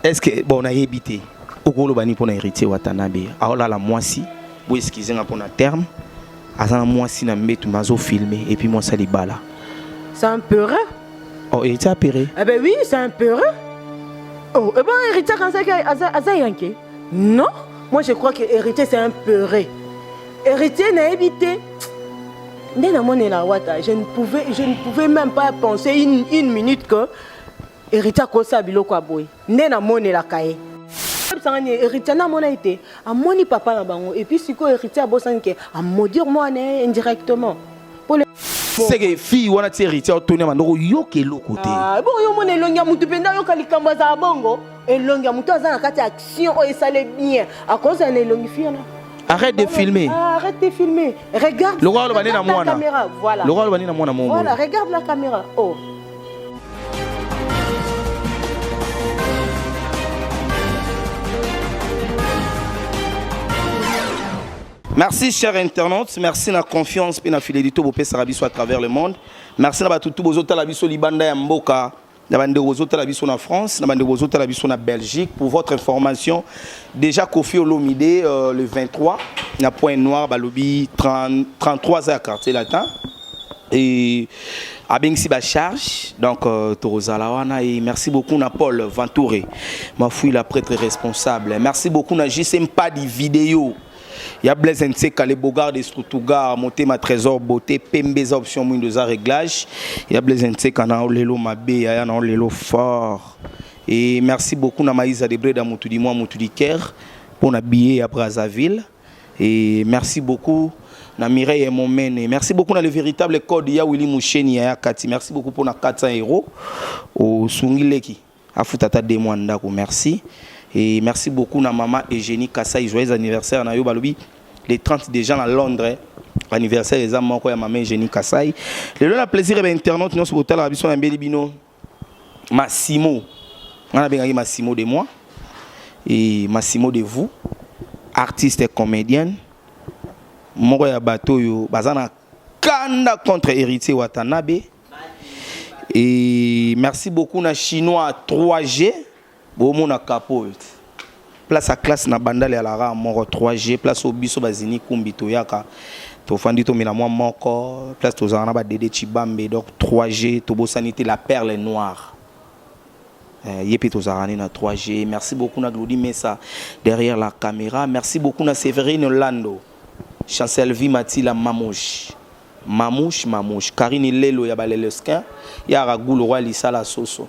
est ce que bon nayebi te okoloba nini mpona héritier watanabe aolala mwasi bo excuse nga mpona terme aza na mwasi na mbetu me azofilme epuis mwasi ya libala c'est un peureux oh héritier apere eh ben oui c'est un peureux oh eh ben héritier kansaki aza yanke non moi je crois que héritier c'est un peureux héritier nayebi te nde namonela wata je ne pouvais je ne pouvais même pas penser une, une minute que Heritier akosala biloko ya boye nde namonelaka ye ayebisanga nini héritier nde amona ete amoni papa na bango epuis sikoyo héritier abosani ke amodir mwana ye indirectement seke fille wana ti héritier otoni ya bandoko yoka eloko te ah, bongo yo omona elongi ya motu mpenza ayoka likambo azala bongo elongi ya motu aza na kati ya action oyo esale bien akozala na elongi fille wana Arrête de filmer. Ah, arrête de filmer. Regarde. Le roi le banana mwana. Voilà. Le roi le banana mwana mongo. Voilà, regarde la caméra. Oh. Merci chers internautes, merci na confiance et na fidélité au pèse biso à travers le monde. Merci na batutu bozota la biso libanda ya mboka. Na bande bozota la biso na France, na bande bozota la biso na Belgique pour votre information. Déjà Kofi Olomide euh, le 23 na point noir balobi 30, 33 à quartier latin. et abengisi ba charge donc euh, tokozala wana et merci beaucoup na paul ventoure mafuila la prêtre responsable merci beaucoup na jcm pas de vidéo ya blaise nseka le bogard de strutugar motema trésor beauté pembe eza option mwindo eza réglage ya blaise nseka na olelo mabe yaya na olelo fort et merci beaucoup na maïsa de breda motu di mwa motu di caire mpo na billet ya brazzaville Et merci beaucoup na Mireille Momene. Merci beaucoup na le véritable code ya Willy Moucheni ya Kati. Merci beaucoup pour na 400 euros au Sungileki. Afuta ta demo ndako. Merci. Et merci beaucoup na maman Eugénie Kassai joyeux anniversaire na yo balobi les 30 des gens à Londres. Anniversaire eza moko ya maman Eugénie Kassai. Le la plaisir et internaute nous sur la biso ya mbeli bino. Massimo nga nabengaki Massimo de moi et Massimo de vous artiste comédienne moko ya bato oyo baza na kanda contre héritier watanabe et merci beaucoup na chinois 3g Bo mona kapo oyo te. Place à classe na bandal ya lara moko 3G place au biso bazini kumbi toyaka tofandi tomela mwa moko place tozalaka na badede chibambe donc 3G tobosani te la perle noire Euh, ye mpe tozalaka nde na 3g merci beaucoup na glodi mesa derrière la caméra merci beaucoup na severine lando chancelvi matila mamouche mamouche mamouche karine lelo ya balelesquin ya ragulu roi lisala soso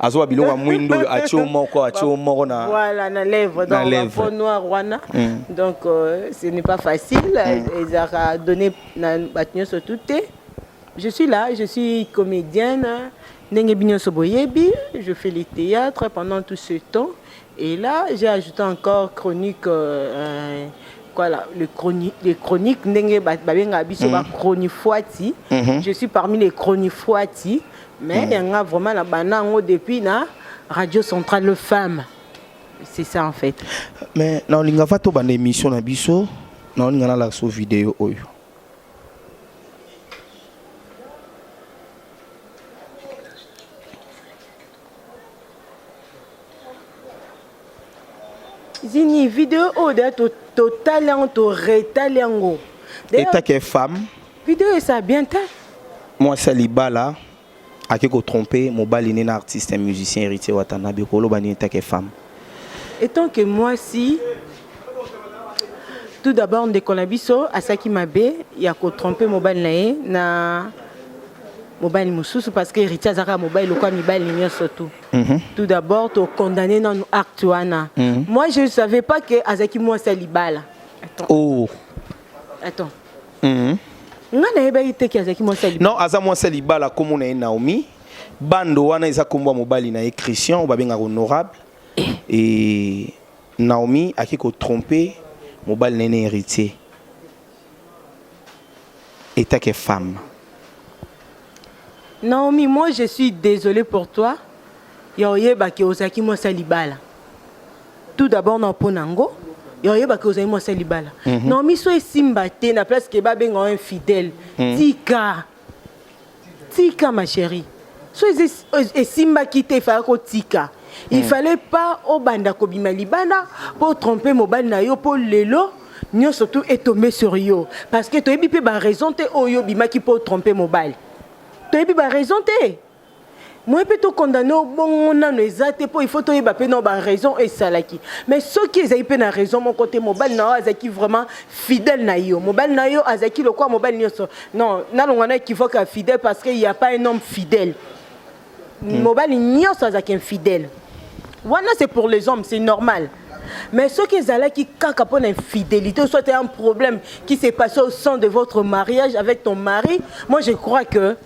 azoba biloko ya mwindo oyo atie yo moko atie yo moko na voilà na lèvre Na donc lèvre. peau noire wana Mm. donc euh, ce n'est pas facile ezalaka donné na bato nyonso tout te je suis là je suis comédienne ndenge bi nyonso boyebi je fais les théâtres pendant tout ce temps et là j'ai ajouté encore chronique euh, euh, voilà le chroni les chroniques ndenge ba- babengaka biso ba chronifuati Mhm. je suis parmi les chronifuati mais mm. yanga vraiment na bana yango depuis na radio centrale le femme c'est ça en fait mais na olinga fa to banda émission na biso na olinga na la so vidéo oyo zini video oyo deya totali yango toretali yango etake femme Video esa bien te. Mwasi ya libala ake ko tromper mobali ne na artiste ya musicien Héritier Watanabe koloba nini take femme. Etant que mwasi tout d'abord ndeko na biso asaki mabe ya ko tromper mobali na ye na mobali mosusu parce que héritier azalaka mobali lokola mibali nyonso tout mm -hmm. tout d'abord tokondamne nanu acte wana mm -hmm. moi je ne savais pas que azalaki mwasi ya libala attends. Oh. attends mm. nga nayebaki te ke azalaki mwasi ya non aza mwasi ya libala komo na ye naomi bando wana eza kombo ya mobali na ye christian oyo babengaka honorable eh. e naomi ake kotrompe mobali na ye na héritier etake femme naomi moi je suis désolé pour toi ya oyebaki ozalaki mwasi ya libala tout d'abord na mpo na ngo oyebaki ozali mwasi ya libala mhm. no miso esimba te na place ke babenga yo infidèle mhm. tika tika ma chérie so esimbaki te efaya kotika il mhm. fallait pas obanda kobima libala mpo trompe mobali na yo mpo lelo nyonso tu etombe sur yo parce que toyebi mpe baraison te oyo obimaki mpo trompe mobali toyebi baraison te moye mpe to condamne yo bongo nano eza te mpo il faut toyeba mpe nao baraison oyo esalaki mais soki ezali mpe na raison moko te mobali na yo azalaki vraiment fidèle na yo mobali na yo azalaki lokola mobali nyonso non nalonga na ekivoke ya fidèle parce que ya pas un homme fidèle hmm. mobali nyonso azalaki infidèle wana c'est pour les hommes c'est normal mais soki ezalaki kaka mpo na infidélité soit un problème qui s'est passé au sein de votre mariage avec ton mari moi je crois que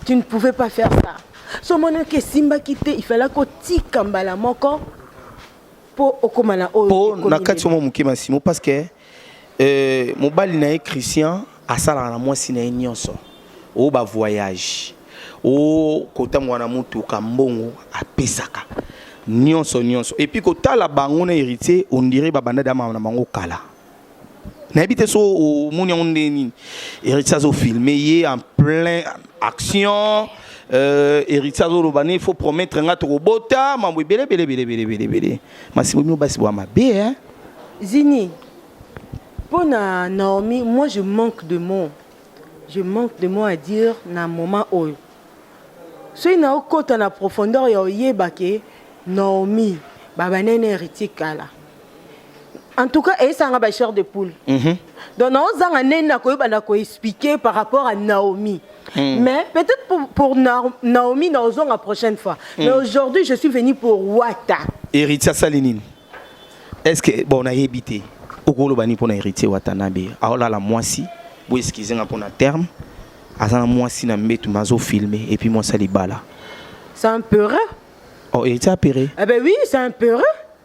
tu ne pouvais pas faire ça so omonaki esimbaki te ifala kotika mbala moko mpo okóma na oyo mpo na kati mwa moke masimo parce que euh, mobali na ye christian asalaka na mwasi na ye nyonso oyo bavoyage o kotambola na motuka mbongo apesaka nyonso nyonso epuis kotala bango na héritier ondire babanda dama na bango kala nayebi te so omoni yango nde nini héritier azofilme ye en plein action euh, héritier azoloba ne faut promettre nga tokobota mambo ebele ebele ebele ebele ebele ebele masibo bino basi bwa mabe hein zini mpo na naomi moi je manque de mots je manque de mots à dire na moment oyo soki naokota na profondeur ya oyeba ke naomi babanene héritier kala en tout cas esanga ba chair de poule mm -hmm. donc naozanga nini nakoyeba na koexplike par rapport à naomi mm. mais peut-être pour, pour na, naomi naozonga prochaine fois mm. mais aujourd'hui je suis venu pour wata héritier asali nini est ce que bon nayebi te okoloba nini mpo na héritier watanabe aolala mwasi bo excuse nga mpo na terme aza na mwasi na mbetu mazofilme epuis mwasi ya libala c'est un peureux oh héritier apere eh ben oui c'est un peureux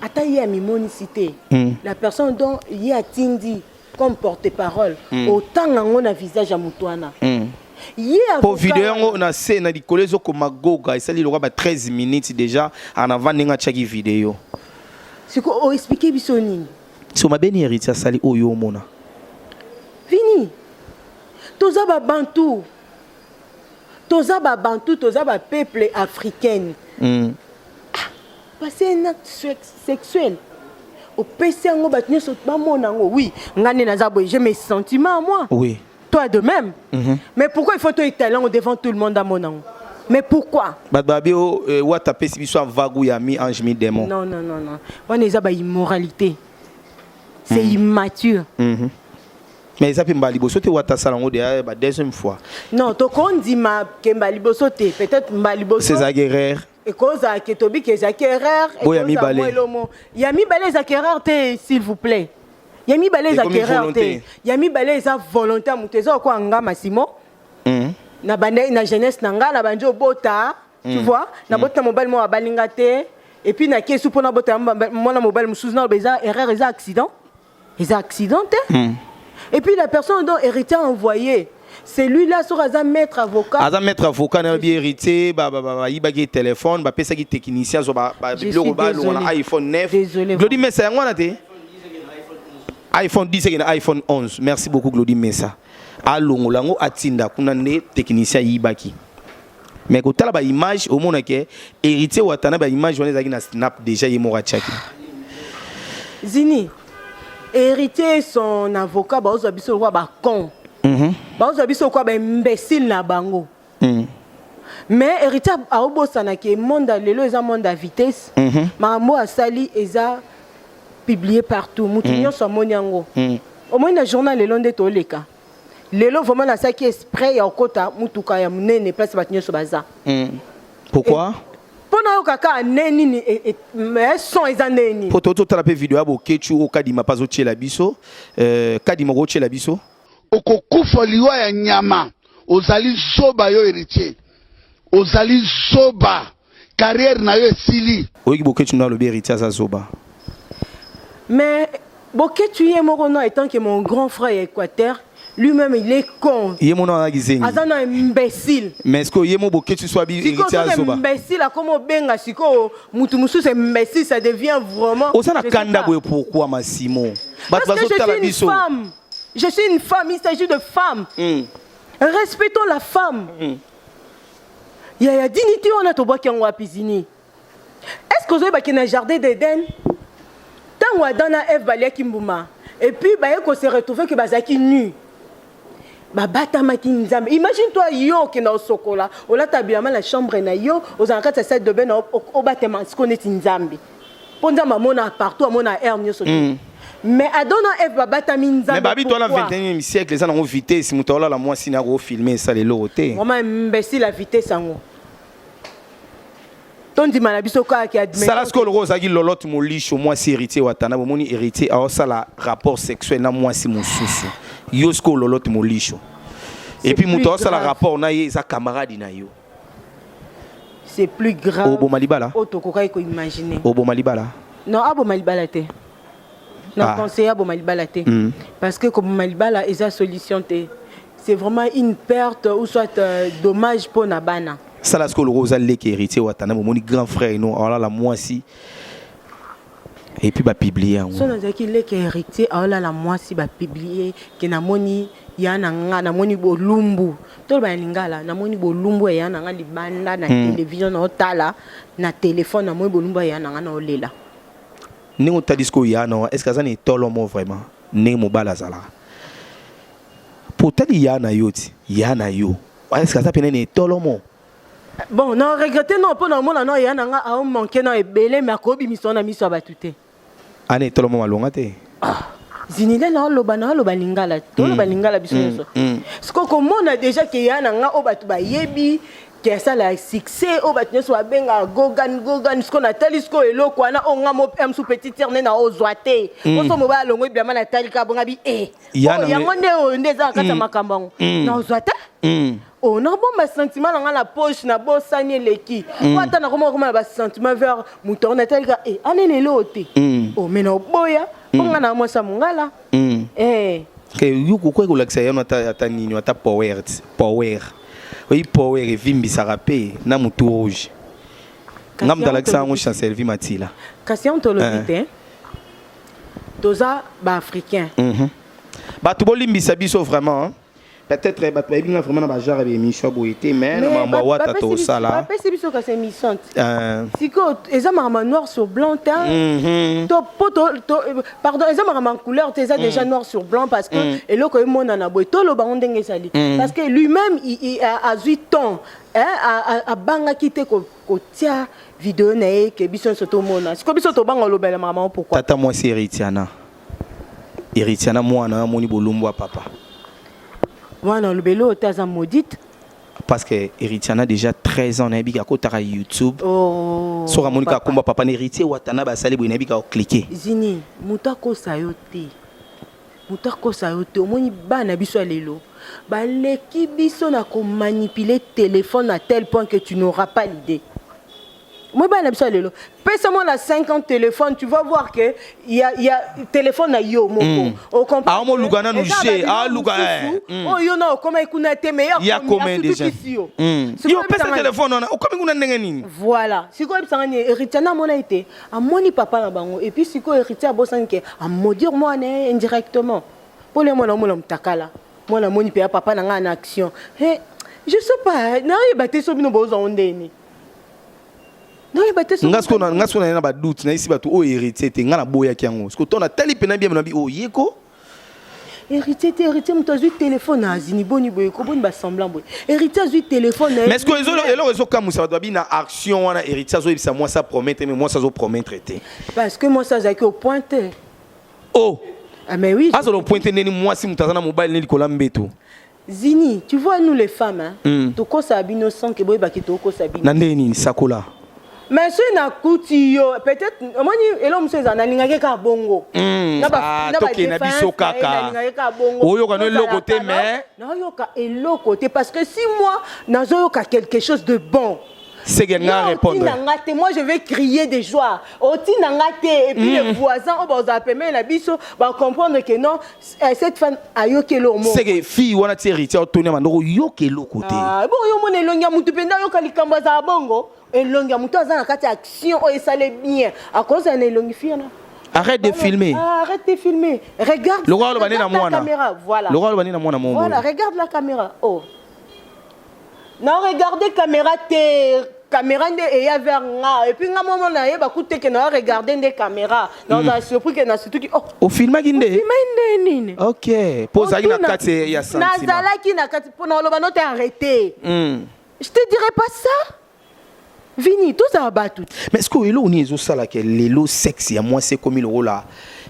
ata ye amimonisi te mm. la personne dont ye atindi comme porte parole mm. otanga yango na visage ya motu wana mm. mpo video yango na se na likolo ezokoma goga esali lokola ba 13 minutes déjà en avant ndenge atyaki video siko oexplike biso nini so mabe ni héritier asali oyo omona vini toza babantu toza ba bantu toza ba peuple africaine mm. ah, pase un acte sexuel opesi yango bato nyonso bamona yango oui ngai nde naza boye je mes sentiments à moi oui. toi de même mm -hmm. mais pourquoi il faut to étale yango devant tout le monde amona yango mais pourquoi bato babi o euh, wata apesi biso avagu ya mi ange mi démon non non non non wana eza ba immoralité c'est mm. immature mm -hmm. mais eza mpe mbala liboso te wata asala yango deya ba deuxième fois non tokondima ke mbala liboso te peut-être mbala liboso ezalaki erreur ekozala ke tobi ke ezalaki erreur oyo ya mibale ya mibale ezalaki erreur te s'il vous plaît ya mibale ezalaki erreur te ya mibale eza volonté ya moto eza okoa nga masimo hmm. na bandaki na jeunesse na ngai na bandi obota tu hmm. vois na hmm. boti na mobali moko abalinga te epuis na kesi mpo nabota mwana mobali mosusu naloba eza erreur eza accident eza accident te hmm. et puis la personne dont héritier a envoyé celui-là soki aza maître avocat aza maître avocat na bi héritier bayibaki téléphone bapesaki technicien zo biloko balonga na iphone 9 glodi mesa yango wana te iphone 10 eke na iphone 11 merci beaucoup glodi mesa alongola yango atinda kuna nde technicien ayibaki mais kotala ba image omona ke héritier watana ba image wana ezalaki na snap déjà ye moko atiaki zini héritier son avocat baozwa biso lokola bacon mhm. baozwa biso lokola baimbécile na bango mhm. mais héritier aobosana ke monde lelo eza monde ya vitesse mhm. makambo oyo asali eza publie partout moto nyonso amoni yango omoni na journal lelo nde toleka lelo vraiment nasalaki esprit ya kokota motuka ya monene place bato nyonso baza mm. pourquoi mpo nayoka kaka nde nini e, e, eh, son eza nde nini mpo totala mpe video ya boketshu oyo kadima mpe azotyela biso euh, kadima okotyela biso okokufa liwa ya nyama ozali zoba yo héritier Ozali zoba. Carrière na yo esili. Oyoki Boketshu nde alobi Heritier aza zoba? Mais Boketshu ye moko non etant que mon grand frère ya Equateur lui-même il est con. Ye mona wana kizengi. Aza na imbécile. Mais est-ce que ye mo Boketshu soit bi Heritier aza zoba? Imbécile akomo benga siko mutu mususu imbécile ça devient vraiment. Oza na kanda boye pourquoi Massimo? Bato bazo tala biso. Parce que je suis une femme. Je suis une femme, il s'agit de femme. Mm. respectons la femme mm. ya ya dignité wana tobwaki yango wapi zini est ce que ozoyebake na jardin d'eden ntango adam na eve baliaki mbuma epuis baye kose retrouve ke bazalaki nu babatamaki nzambe imagine toi yo okenda osokola olata bilama na chambre na yo ozala kati ya salle de bain na obatema siko neti nzambe mpo nzambe amona partout amona aire nyonso mm. mais adam na eve babatami nzambe mais babi twana 21e siècle eza nango vitesse moto aolala mwasi na yako filme esala eloko te mama imbecile ya vitesse yango tondima na biso kaka kiadmesala sikoyo lokola ozalaki lolote molisho mwasi héritier watana bomoni héritier aosala rapport sexuel na mwasi mosusu yo sikoyo lolote molisho epuis moto aosala rapport na ye eza camarade na yo c'est plus grave oboma libala oyo tokokaki koimagine oboma libala non aboma libala te na ah. conseille aboma libala te mm. parce que koboma libala eza solution te c'est vraiment une perte ou soit euh, dommage mpo na bana sala sikoyo lokola oza leki héritier watana momoni grand frère ino alala mwasi et puis ba publier yango so nazalaki leke héritier aolala mwasi ba publier ke namoni ya na nga namoni bolumbu toloba ya lingala namoni bolumbu ya na nga libanda na hmm. television na otala na telefone namoni bolumbu ya na nga na olela ndenge otali sikoyo ya na est ce que aza na etolo mo vraiment ndenge mobali azalaka po otali ya na yo ti ya na yo est ce que aza pene na etolo mo Bon, na regretter non pona mona non ya nanga a manquer na ebele mais akobi miso na miso abatu te. Ane tolo mama longa te. Ah. Zinile na oloba na oloba lingala. Toloba mm. lingala biso mm. nyonso. Mm. Siko komona déjà ke ya nanga o batu bayebi ke asala succès o batu nyonso babenga gogan gogan siko natali siko eloko wana o nga mo m sous petit terne na ozwa te. Oso mo ba longo ebiama natali ka bonga bi eh. Yango nde oyo nde eza kati ya makambo yango. Na ozwa te. Oh, nabomba sentiment na ngai na poche na bosani eleki mm. po ata nakoma koma na basentiment vers moto yango natalika e eh, anene eloo te mm. o oh, me na oboya po mm. ngai na mwasi ya mongala mm. eh. okoki kolakisa yano ata nini ata power power oyi power evimbisaka mpe na motu rouge nga moto alakisa yango chancelvi matila kasi yango tolobi eh. te toza baafricain mhm. bato bolimbisa biso vraiment peut-être bato bayebi nga vraiment na bagenre ya émission boye te mais na makambo ya wata tosala bapesi biso kasi émission te euh. sikoyo eza makambo noir sur blanc te mhm. to po pardon eza makambo ya couleur te eza mhm. déjà noir sur blanc parce que mhm. eloko emonana boye toloba ngo ndenge ezali parce que lui-même azwi temps abangaki te kotia video na ye ke biso nyonso tomona sikoyo biso tobanga olobela makambo pourquoi tata mwasi heritiana Heritier na mwana amoni bolumbu ya papa. Mwana olobeli oyo te aza maudite. Parce que Heritier na déjà 13 ans nayebi akotaka YouTube. Oh. Soki amoni ka komba papa na Heritier Watana basali boye nayebi ka cliquer. Zini, moto akosa yo te. Moto akosa yo te. Omoni bana biso ya lelo baleki biso na komanipuler téléphone à tel point que tu n'auras pas l'idée. Moi, bana biso lelo pesa moi na 50 téléphone tu vas voir que il y a, y a téléphone na yo moko mm. au comprendre ah mo luka na nous chez ah luka eh hmm. oh yo na okoma ikuna te mais ya combien déjà yo hmm. yo pesa téléphone na okomi kuna ndenge nini voilà siko ebisa ngani héritier na mona ete amoni papa na bango et puis siko héritier abosani ke a maudire moi ne indirectement pour les moi na mona mutakala moi na moni pe papa na nga na action he je sais pas na yeba te so bino bozo ndeni nga siko na nga siko na na ba doute na isi batu o héritier te nga na boya ki yango siko tona tali pena bien na bi o yeko héritier te héritier moto azwi telefone azini boni boye koboni basemblant boye héritier azwi telefone mais ce que eloko ezokamwisa bato babi na action wana héritier azoyebisa mwasi apromettre mais mwasi azopromettre te parce que mwasi azalaki opointe o oh. ah, mais oui azala opointe ndeni mwasi moto aza na mobali ne likolo ya mbeto Zini, tu vois nous les femmes, hein, mm. tokosa bino sans que boyeba ki tokosa bino. Na ndenge nini sakola? mais soki nakuti yo peut-être omoni eloko mosusu ezala nalingaki kaka bongo hmm, ah, tokende na biso kaka oyoka no eloko te mais nayoka eloko te parce que si moi nazoyoka quelque chose de bon c'est que nga répondre te moi je vais crier de joie otina nga te et puis mm. les voisins oyo bazala pembeni na biso ba comprendre que non Eh, cette femme ayoki eloko moko seke fille wana ti héritier otoni amanda oyoka eloko te Ah, bongo yo omona elongi ya motu mpenza ayoka likambo azala bongo elongi ya motu aza na kati ya action oyo esale bien akozala na elongi fi wana arrête de filmer Ah, arrête de filmer regarde lokola aloba nde na regarde la mwana caméra voilà lokola aloba nde na mwana momo voilà regarde la caméra oh na regarde camera te camera nde eya vers nga epuis nga momo nayeba kute ke na regarde nde camera nazala hmm. surpris ke nasutuki oh. ofilmaki nde ofilmaki nde nini ok mpo ozalaki na kati ya sentiment nazalaki na kati mpo na oloba note arrete hmm. je te dirai pas ça Vini, tozala batu. Mais sikoyo eloko nini ezosala ke lelo sexe ya mwasi ekomi lokola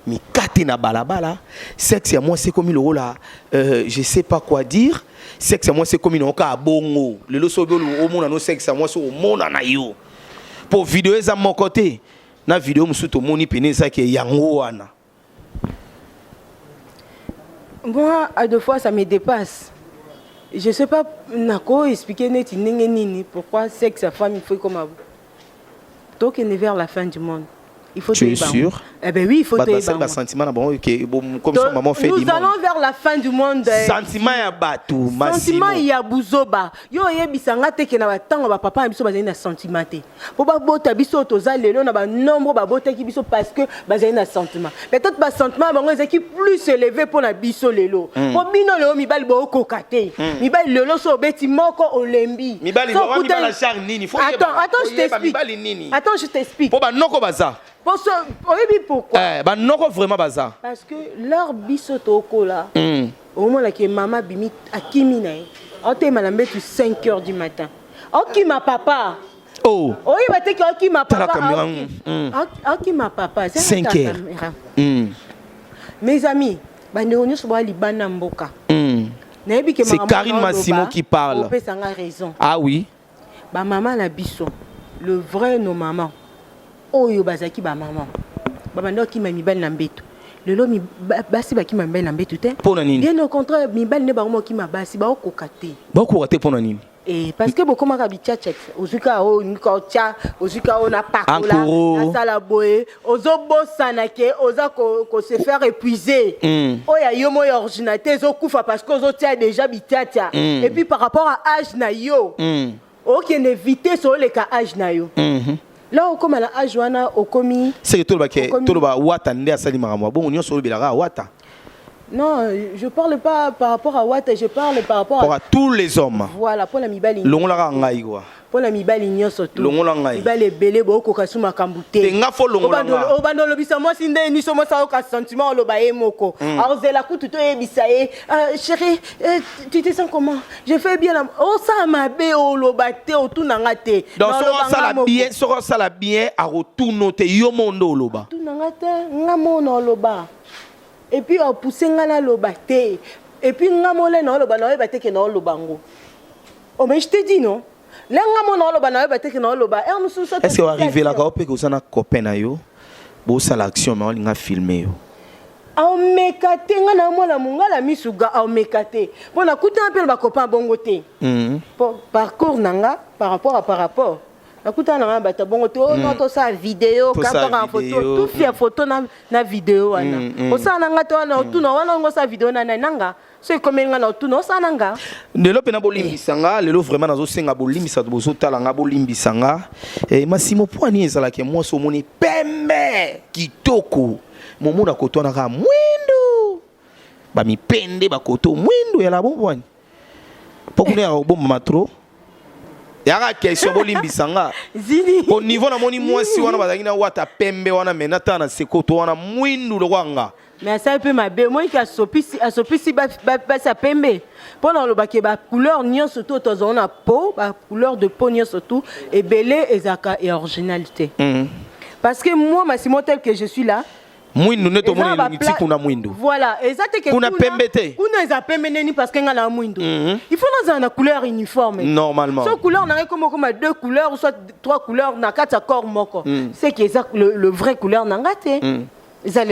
mikate na balabala, sexe ya mwasi ekomi lokola euh, je sais pas quoi dire, sexe ya mwasi ekomi nango kaka bongo. Lelo soki omona no sexe ya mwasi omona na yo po video eza moko te na video mosusu tomoni pene eza ke yango wana Moi, à deux fois, ça me dépasse. Je sais pas, nako expliquer neti ndenge nini pourquoi sexe ya femme il faut comme tokende vers la fin du monde. Il faut tu es sûr Eh ben oui, il faut te bah, bah, sentiment na bon que bon comme ça maman fait Nous allons vers la fin du monde. Eh. Sentiment ya batu, massimo. Sentiment ya buzoba. Yo yebisa nga te que na ba tango ba papa na biso bazali na sentiment te. mpo babota biso oyo toza lelo na banombre babotaki biso parce que bazali na sentiment peut-être basentiment ya bango ezalaki plus élevé mpo na biso lelo hmm. mpo bino lelo mibali bokoka te hmm. mibali lelo so obeti moko olembi attends je t'explique mpo banoko baza oyebi pourquoi eh, banoko vraiment baza parce que leur biso tokola hmm. omonaki mama bimi akimi na ye aoteyema na mbetu 5 heures du matin Okima papa. Oh. Oyo ba teki okima papa. Tala kamera. Mm. Okima papa. 5 heures. Mm. Mes amis, bande onyo so ba libana mboka. Mm. Nayebi ke maman. C'est Karine Massimo qui parle. Opesa nga raison. Ah oui. Ba maman na biso. Le vrai nos mamans. Oyo bazaki ba maman. Ba bande okima mibali na mbeto. lelo basi bakima mibali na mbetu te bien au contraire mibali nde bango bakima basi baokoka te baokoka te mpo na nini Eh, parce que bokomaka bichacha ozwi kaka oyo olingi kaka otya ozwi kaka oyo napakola Ankoro. nasala boye ozobosana ke oza ko, ko se faire épuiser Mm. oyo ya yo moi ya ordinateur ezokufa parce que ozotya déjà bichacha Mm. et puis par rapport à âge na yo Mm. okende vitesse oleka âge na yo Mhm. Là okoma na age wana okomi seke toloba ke Okomi- toloba wata nde asali makambo bongo nyonso olobelaka kaka wata Non, je parle pas par rapport à Wata, je parle par rapport pour à à tous les hommes voilà pona mibali. longola kaka ngai kwa Pona mibali nyonso tu. Longola ngai. Mibali ebele bo koka su makambo te. Te, nga fo longola Obando- nga. Obando lobisa mwasi nde ni somo sa oka sentiment oloba ye moko. Aozela kutu to yebisa ye, ah, chérie, eh, tu te sens comment? je fais bien na osala mabe oloba te otuna nga te donc soki osala bien soki osala bien akotuna o te yo moo nde oloba tuna nga te nga moo na oloba epuis opousse nga naloba te epuis nga mole na oloba na oyeba te ke na oloba yango omei oh, je te dis non lenga mona oloba na yo bateki na oloba heure mosusu soki est-ce que oarivelaka yo mpe koza na copain na yo bosala action ma olinga filme yo aomeka te ngai na mwana mongala misu ga aomeka te mpo nakutana mpe na bacopain bongo te mhm. mpo parcours na nga par rapport à par rapport nakutana na ngai bato bongo te oh, mm. tosala video kakaka foto tufi ya foto na video wana mm, mm. osala na ngai te wana otuna wana ongo osala video na nani nanga soki ekomeli nga na otuna osala na nga lelo mpe na bolimbisa nga lelo vraiment nazosenga bolimbisa to bozotala nga bolimbisa nga e, masimo mpo ani ezalaki mwasi omoni pembe kitoko momona akotwanaka mwindu bamipende bakoto mwindu ya labobwani mpo kuna ya kobomba matro yaka question bolimbisa nga po niveau namoni mwasi wana bazalaki na wata pembe wana me natala na sekoto wana mwindu lokola nga me asali mpe mabe omoniki asopisi basi ya pembe mpo na olobaki bacouleur nyonso to tozango na po bacouleur de po nyonso tu ebele ezalaka ya originalité mhm. parce que moi masimo tel que je suis là mwindu nde tomoni elongi ti kuna mwindu voilà eza te ke kuna pembe te kuna eza pembe neni parce que nga na mwindu mhm. il faut nazala na couleur uniforme normalement so couleur na ngai koma koma deux couleurs soit trois couleurs na kati ya corps moko mhm. c'est que eza le, le vrai couleur na nga te mhm.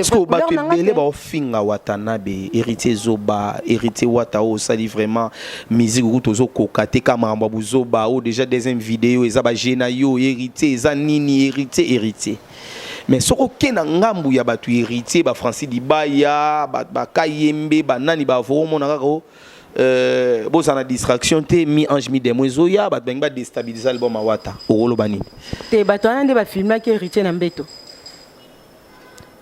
sikoyo bato ebele baofinga watanabe héritier zoba héritier wata oyo osali vraiment musique okuti ozokoka te ka makambo ya buzoba oyo déjà deuxième video eza baje na yo héritier eza nini héritier héritier mais soki oke na ngambu ya bato héritier ba francis libaya bakayembe ba banani bavo omona kaka o euh, bozala na distraction te mi ange mi demo ezoya bato balingi badestabilize album awata okoloba nini te bato wana nde bafilmaki héritier na mbeto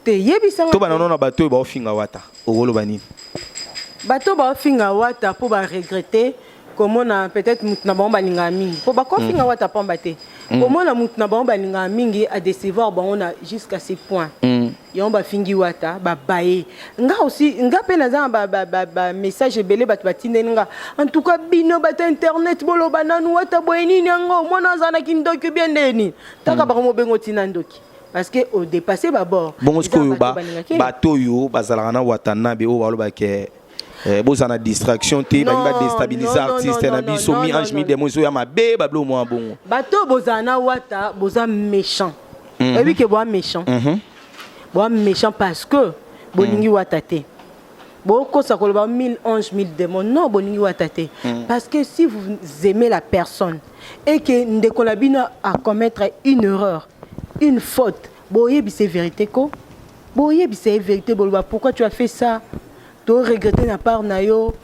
te yebisa to banano na bato oyo baofinga wata okoloba nini bato baofinga wata mpo baregrete komona peut-être mutu na bango balingaka mingi mpo bakofinga mm. wata pamba te mm. komona mutu na bango balingaka mingi adecevoir bango na jusqu'à ce point mm. yango bafingi wata babaye nga aussi nga mpe naza na bamessage ba, ba, ba ebele bato batindeli nga en tout cas bino bato internet boloba nanu wata boye nini yango mwana aza na kindoki bie nde nini taka mm. bango mobengo otina ndoki parce que odepasse babord bongo sikoyo bato oyo bazalaka na watanabe oyo balobake Eh, boza na distraction te balingi badestabilize artiste na biso mi ange mi demo ezoya mabe bablo mwa bongo bato oyo bozala na wata boza méchant mhm. oyebi ke boa méchant mhm. boa méchant parce que bolingi mhm. wata te bokosa koloba 1000 ange 1000 démon non bolingi wata te parce que si vous aimez la personne et que ndeko na bino a commettre une erreur une faute boyebise vérité ko Bo yebisa ye verite boloba pourquoi tu as fait ça? To regretter na part na yo.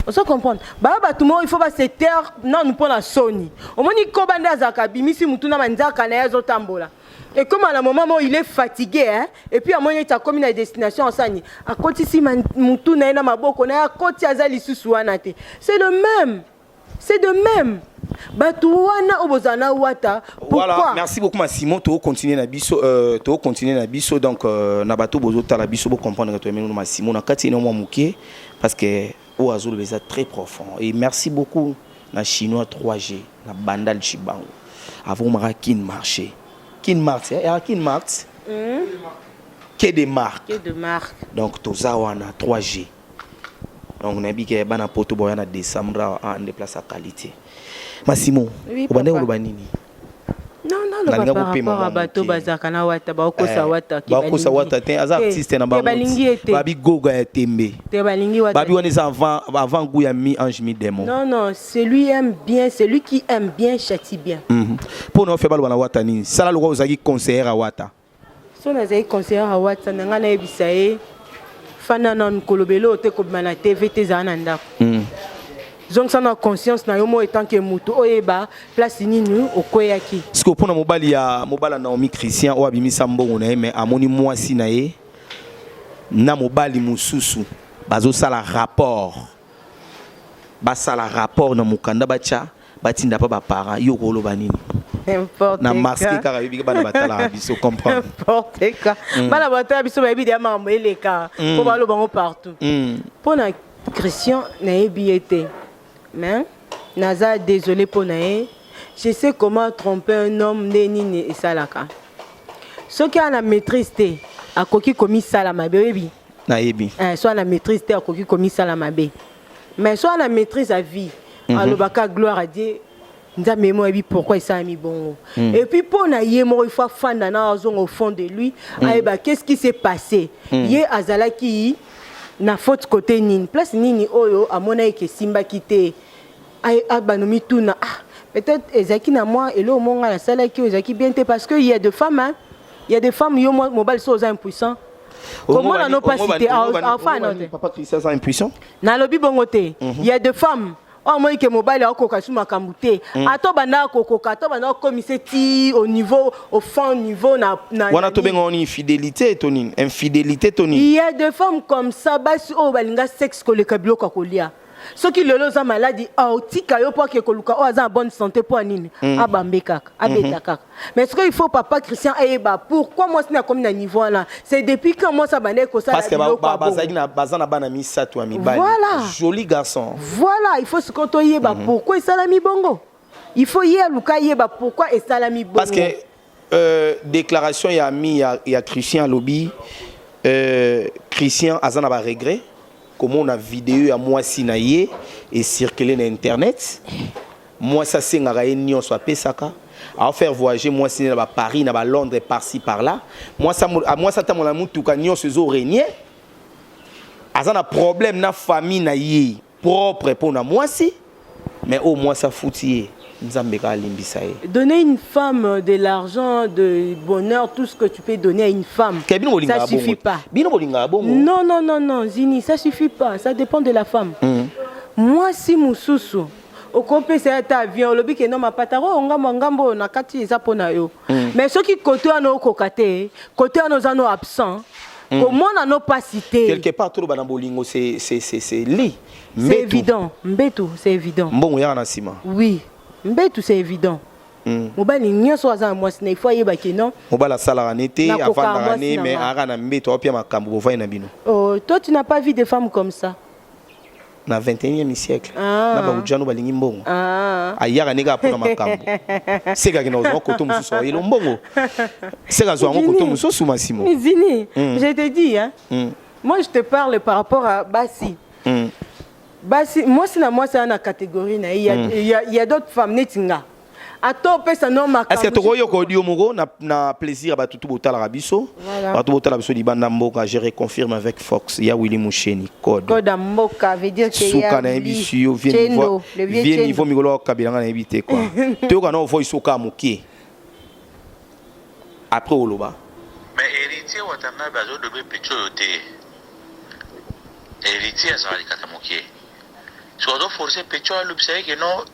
Ozo comprendre? Ba bato mo il faut ba se taire nanu mpo na soni. Omoni koba nde azalaka bimisi mutu na manzaka na ye azo tambola. Et comme à la moment mo il est fatigué hein et puis amoni ete akomi na destination asani akotisi mutu na ye na maboko na ye akoti aza lisusu wana te. C'est le même. c'est de même bato wana oyo bozala na wata pourquoi voilà, merci beaucoup masimo tokocontinue na biso euh, tokocontinue na biso donc euh, na bato bozotala biso bocomprendre que toyameli no masimo na kati eno mwa moke parce que oyo azoloba eza très profond et merci beaucoup na chinois 3g na bandal chibango avomaka kin marché kin mart eh, ya kin mart mm. que de marque donc toza wana 3g donc nayebi ke bana poto boya na décembre awa ah, nde place ya qualité masimo Oui, obandaki papa. koloba nini Non, non, Nalinga loba par kopema rapport à mwa bato moke. bazalaka na wata bakokosa Eh, wata ke bakosa balingi. wata te aza Te, artiste na te, bango balingi ye te babi goga ya tembe te balingi wata babi wana eza avant avant goût ya mi ange mi démon non non celui aime bien celui qui aime bien châtie bien Mhm. mpo na ofe baloba na wata nini sala lokola ozalaki conseillere ya wata so nazali conseiller ya watsa na ngai nayebisa ye fanda nanu kolobela oyo te kobima na tv te ezala na ndako hmm. zongisa na conscience na yo moi etant ke motu oyeba place nini okweyaki sikoyo mpo na mobali ya mobala naomi christian oyo abimisa mbongo na ye me amoni mwasi na ye na mobali mosusu bazosala rapport basala rapport na mokanda batya batinda pa ba parents yo okoloba nini na masque kaka yobi bana batalaka biso comprendre n'importe quoi mm. bana batala biso bayebi deya makambo eleka mm. mpo baloba yango partout mm. mpo na christian nayebi ye te mais naza désolé mpo na ye je sais comment tromper un homme nde nini esalaka soki ana maîtrise te akoki komisala mabe oyebi nayebi eh, so ana maîtrise te akoki komisala mabe mais soit na maîtrise à vie mm -hmm. alobaka gloire à Dieu nzambe ye moko ayebi pourquoi esalami bongo mm. et puis mpo na ye moko ifo afanda na azonga au fond de lui mm. ayeba qu'est ce qui s'est passé mm. ye azalaki na faute côté nini place nini oyo amonaki ke esimbaki te abano mituna ah peut-être ezalaki na mwa eloko moko ngai nasalaki oyo ezalaki bien te parce que il y a de femmes hein? il y a des femmes yo mobali so oza impuissant komona no mpasi te afana te papa christian aza impuissant nalobi bongo te mhm. ya de femme oyo amoni ke mobali akokoka su makambo te mhm. ata obandaka kokoka ata obandaka kokomise ti au niveau au fin niveau na wana tobenga wana infidélité to nini infidélité to nini ya de femme comme ça basi oyo balinga sexe koleka biloko ya kolia soki lelo oza maladi aotika yo mpo ake koluka oyo aza na bonne santé mpo ya nini mm. abambe kaka abeta mhm. kaka mais soki il faut papa christian ayeba pourquoi mwasi nakomi na niveau wana c'est depuis quand mwasi abandaki kosalaabaza na bana misato ya mibali voilà. joli garçon voilà il faut sikoyo toyeba mm -hmm. pourquoi esalami bongo il faut ye aluka ayeba pourquoi esalami bongo Euh, déclaration ya ami ya, ya Christian alobi euh, Christian aza na ba regret komona video ya mwasi na ye ecircule na internet mwasi asengaka ye nyonso apesaka aofaire voyager mwasi ne na ba paris na ba londres parci par là mwasi atambola na motuka nyonso ezo regne aza na problème na famille na ye propre mpo na mwasi mais oyo mwasi afuti ye nzambe kaka alimbisa ye donner une femme euh, de l'argent de bonheur tout ce que tu peux donner à une femme Ke bino bolingaka ça suffit bongo pas te. bino bolingaka bongo non non non non zini ça suffit pas ça dépend de la femme Mm. mwasi mosusu okopesa ye ata avion olobi ke no mapata oyo ngambo ya ngambo oyo na kati eza mpo na yo mais soki kote wana okoka te kote wana oza no absent mm. komona no pasi te quelque part toloba na bolingo c'est c'est c'est c'est li c'est évident mbetu c'est évident mbongo yaka na sima oui mbetu c'est évident mm. mobali nyonso aza na mwasi na ifo ayeba ke non mobali asalaka ne te afandaka ne mais aka na mbetu aopia makambo bovai na bino oh, toi tu n'as pas vu des femmes comme ça na 21e siècle ah. na baujano balingi mbongo ah. ayaka ndenge apona makambo seka akenda kozwa koto mosusu ayelo mbongo seka azwa yango koto mosusu masimo mizini mm. je te dis hein? mm. moi je te parle par rapport à basi mm. basi mwasi na mwasi aa na catégorie na ye mm. ya, ya, ya d'autres femmes neti nga ata opesa no makambo eske tokoki yoko audio moko na, na plaisir ya bato tu botalaka biso voilà. bato botala biso libanda mboka je reconfirme avec fox ya willi musheni code code ya mboka veut dire que suka nayebisi yo vie niveau vie niveau mikolo ya kabila nga nayebi te kua toyoka na ovoi soka moke après oloba mais héritier watanabe azodobe pico oyo te héritier azala likata moke soki azoforce pico alobisa ye ke non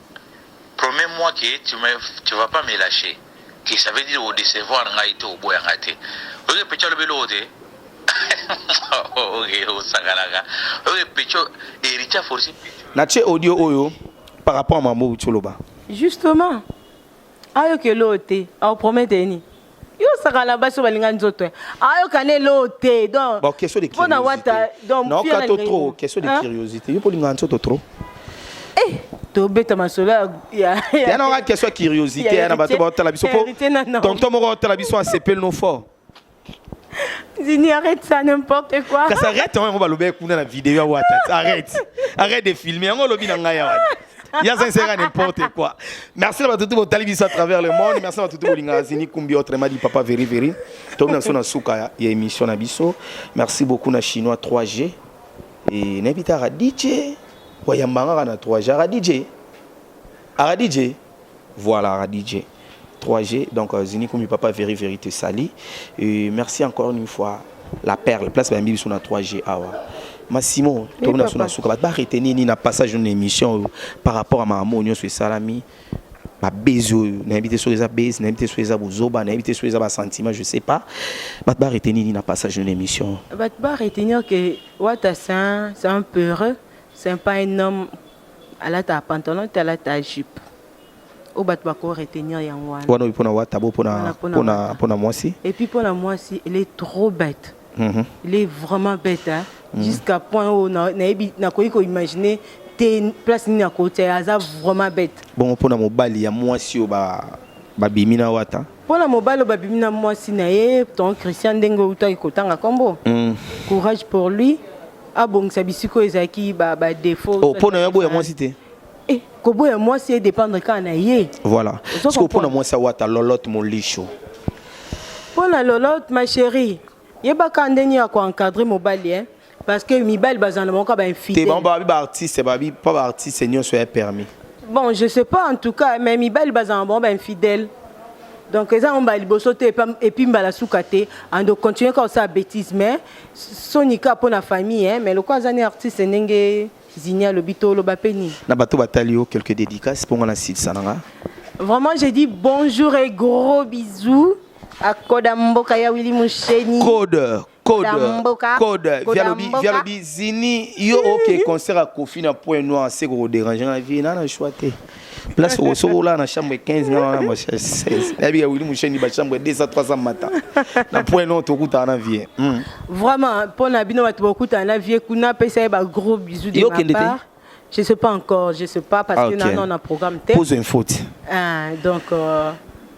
Promets moi que tu me tu vas pas me lacher que ça veut dire o decevoir ngai te oboya ngai te oyoki pecho alobi eloko te oke osakanaka oyoki pecho héritier aforce na tie audio oyo par rapport à mambo uti oloba justement ayoki eloko te aopromete ye nini Yo saka na basi balinga nzoto. Ayoka ne lo te. Donc Bon, question de Pona curiosité. wata donc Non, fia na kato linga trop, ye. question de Hein? curiosité. Yo poli nga nzoto trop. Eh, tobeta masolo ya ya. Ya na nga question ya curiosité, ya na bato ba tala biso po. Héritier na na. Tonton moko tala biso a sepel no fort. Zini arrête ça n'importe quoi. Kasi arrête yango yango balobaki kuna na video ya wata. Arrête. Arrête de filmer yango olobi na ngai ya wata. ya sincère n'importe quoi merci na bato tu botali biso à travers le monde merci na bato tu bolingaka zini kumbi autrement dit papa veri veri tokomi na biso na suka ya, ya émission na biso merci beaucoup na chinois 3g e nayebi te aradije wayambangaka na 3g aradije aradije Voilà Radije. 3G, donc euh, Zinikumi Papa Veri Vérité Sali. Et merci encore une fois, la perle, place Bambi biso na 3G awa. Massimo, Oui, tokona papa. sona suka ba arrêter nini na passage d'une émission oyo, par rapport à maman nyo so salami. Ba base oyo, na habité sur eza base, na habité sur eza bozoba, na habité sur eza ba sentiments, je sais pas. Ba arrêter nini na passage d'une émission. Bah, tu vas retenir que Wata, c'est un, c'est un peureux, c'est pas un homme Alata pantalon te alata jupe. Oyo bato bako retenir yango wana. Wana oyo mpona wata bo mpona mpona mpona mwasi. Et puis mpona mwasi elle est trop bête. Mm -hmm. Elle est vraiment bête hein. Mm -hmm. Jusqu'à point oyo na nayebi nakoki ko imaginer te place nini akotia aza vraiment bête. Bongo mpona mobali ya mwasi oyo ba babimi na wata. mpo na mobali oyo babimi na mwasi na ye ton christian ndenge outaki kotanga nkombo mm. courage pour lui abongisa bisika oyo ezalaki badefaut oh, mpo na yo boya mwasi te eh, koboya mwasi edépendre kaka na ye voilà siko mpo na mwasi awata lolote molisho mpo na lolote ma chérie Yebaka ndenge ya ko encadrer mobali hein parce que mibali bazana na bango ba infidèle. Te bango ba ba artiste ba bi pas ba artiste nyonso ya permis. Bon je sais pas en tout cas mais mibali bazana na bango ba infidèle. Donc eza on ba liboso te et puis mbala suka te ando continuer ka sa bêtise mais sonika pona famille hein mais lokwa azani artiste ndenge Zini alobi to loba pe nini. Na bato batali yo quelques dédicaces mpo nga na silisa na nga. Vraiment, j'ai dit bonjour et gros bisous. akoda mboka ya wili musheni code code code vialobi vialobi zini yo oke concert ya kofi na point noir se kokoderange na vie nana choix te place osokola na chambre 15 nga wana ma 16 nayebi ya wili musheni ba chambre 200 300 mata na point noir tokutana na vie hmm. vraiment mpo na bino bato bokutana na vie kuna apesa ye ba gros bisous de ma part Je sais pas encore, je sais pas parce ah, okay. que non, on a programme tête. Pose une faute. Ah, donc euh,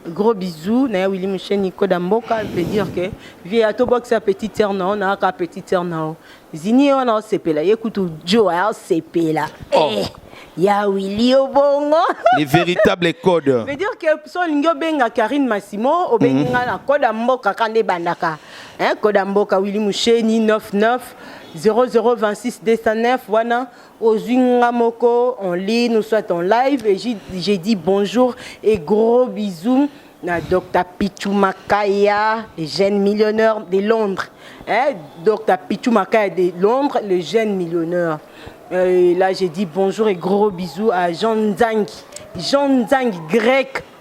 gros bisous na Willy Michel Nico Damboka veut dire que via to box sa petite sœur non, on a ka petite sœur non. Zini on a sepela, écoute Joe a sepela. Oh. Eh. ya Willy Obongo. Les véritables codes. veut dire que so lingo benga Karine Massimo obenga mm -hmm. na code mboka kande bandaka. Hein, code mboka Willy Musheni 99 0026209 wana ozwi nga moko en ligne ou soit en live et j'ai dit bonjour et gros bisous na Dr Pichu Makaya le jeune millionnaire de Londres hein Dr Pichu Makaya de Londres le jeune millionnaire euh, et là j'ai dit bonjour et gros bisous à Jean Nzangi Jean Nzangi grec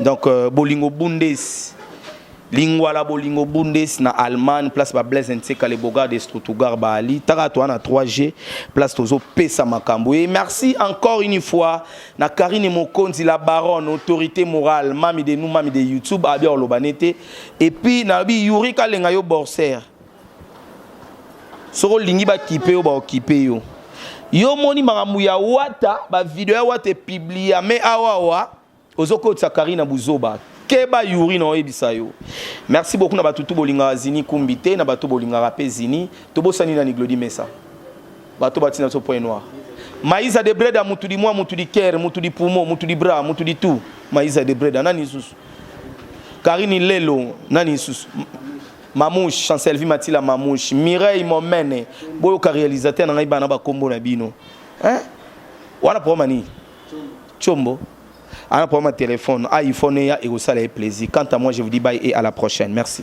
donc euh, bolingo bundes lingwala bolingo bundes na allemagne place ba blaise nseka le bogar de strutugar baali taka toa na 3g place tozopesa makambo e merci encore une fois na karine mokonzi la baronne autorité morale mami de nous mami de youtube abia oloba nete epuis nalobi yuri kalenga yo borser soki olingi bakipe yo baokipe yo yo omoni makambo ya wata bavideo ya wata epiblia me awawa ozokotisa kari na buzoba keba yuri na oyebisa yo merci beaucoup na bato tu bolingaka zini kumbi te na bato bolingaka mpe zini tobosani na niglodi mesa bato batina biso point noir maiza de breda mutu di mwa mutu di kere mutu di pumo mutu di bra mutu di tu maiza de breda nani lisusu karini lelo nani lisusu Mamouche, Chancelvi Matila Mamouche, Mireille Momene, boyoka réalisateur na ngai bana ba kombo na bino. Hein? Wana problème nini? Chombo. Ana problème téléphone, ah, iPhone ya ekosala ye plaisir. Quant à moi, je vous dis bye et à la prochaine. Merci.